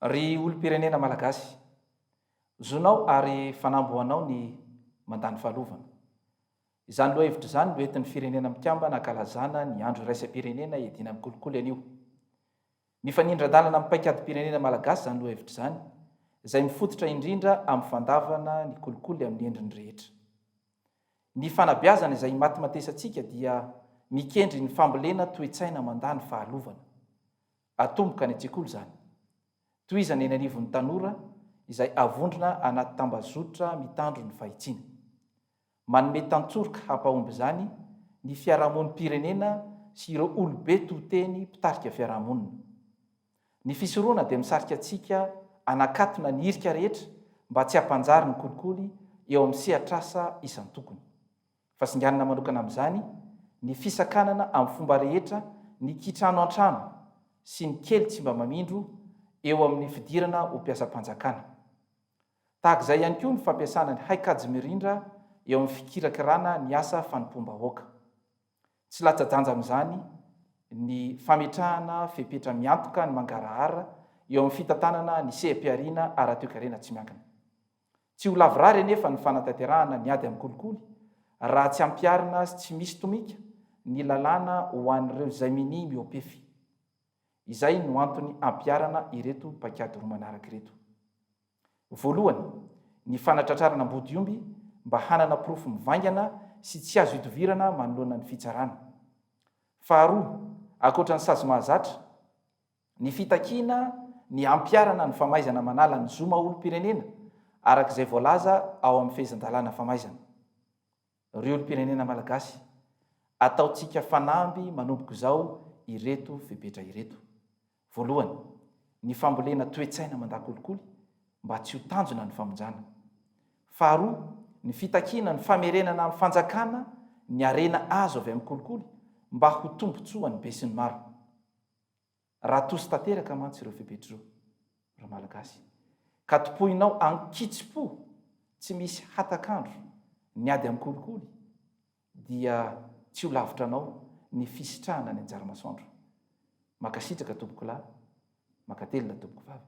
Ry olom-pirenena Malagasy, zonao ary fanamby ho anao ny mandany fahalovana. Izany lohahevitra izany no entin'ny Firenena Mikambana ankalazana ny Andro Iraisam-pirenena hiadiana amin'ny kolikoly anio. Mifanindran-dalana amin'ny paikadim-pirenena Malagasy izany lohahevitra izany, izay mifototra indrindra amin'ny fandavana ny kolikoly amin'ny endriny rehetra. Ny fanabeazana izay imatimatesantsika dia mikendry ny fambolena toe-tsaina mandany fahalovana. Atomboka any an-tsekoly izany. Tohizana eny anivon'ny tanora izay avondrona anaty tambazotra mitandro ny fahitsiana. Manome tantsoroka hampahomby izany ny fiarahamonim-pirenena sy ireo olobe to teny mpitarika fiarahamonina. Ny fisorohana dia misarika antsika hanakatona ny hirika rehetra mba tsy hampanjary ny kolikoly eo amin'ny sehatr'asa isan-tokony. Fa singanina manokana amin'izany ny fisakanana amin'ny fomba rehetra ny kitrano an-trano sy ny kely tsy mba mamindro eo amin'ny fidirana ho mpiasam-panjakana. Tahaka izay ihany koa ny fampiasana ny haikajy mirindra eo amin'ny fikirakirana ny asa fanompoam-bahoaka. Tsy latsa-danja amin'izany ny fametrahana fepetra miantoka ny mangarahara eo amin'ny fitantanana ny seha-pihariana ara-toekarena tsy miankina. Tsy ho lavorary anefa ny fanatanterahana ny ady amin'ny kolikoly raha tsy ampiharina sy tsy misy tomika ny lalàna ho an'ireo izay minia mihoa-pefy. Izay no antony hampiharana ireto paikady roa manaraka ireto. Voalohany, ny fanatratrarana ambodiomby mba hanana porofo mivaingana sy tsy azo idovirana manoloana ny fitsarana. Faharoa, ankoatra ny sazy mahazatra, Ny fitakiana ny hampiharana ny famaizana manala ny zo maha olom-pirenena araka izay voalaza ao amin'ny fehezan-dalàna famaizana. Ry olom-pirenena Malagasy, ataontsika fanamby manomboka izao ireto fepetra ireto. Voalohany, ny fambolena toe-tsaina mandakolikoly mba tsy ho tanjona ny famonjana. Faharoa, ny fitakiana ny famerenana amin'ny fanjakana ny harena azo avy amin'ny kolikoly mba ho tombontsoan'ny besinimaro. Raha toso tanteraka mantsy ireo fepetr'ireo, ry Malagasy, ka tompoinao an-kitsim-po tsy misy hatak'andro ny ady amin'ny kolikoly, dia tsy ho lavitra anao ny fisitrahana ny anjara-masoandro. Mankasitraka, Tompokolahy, mankatelina, Tompokovavy.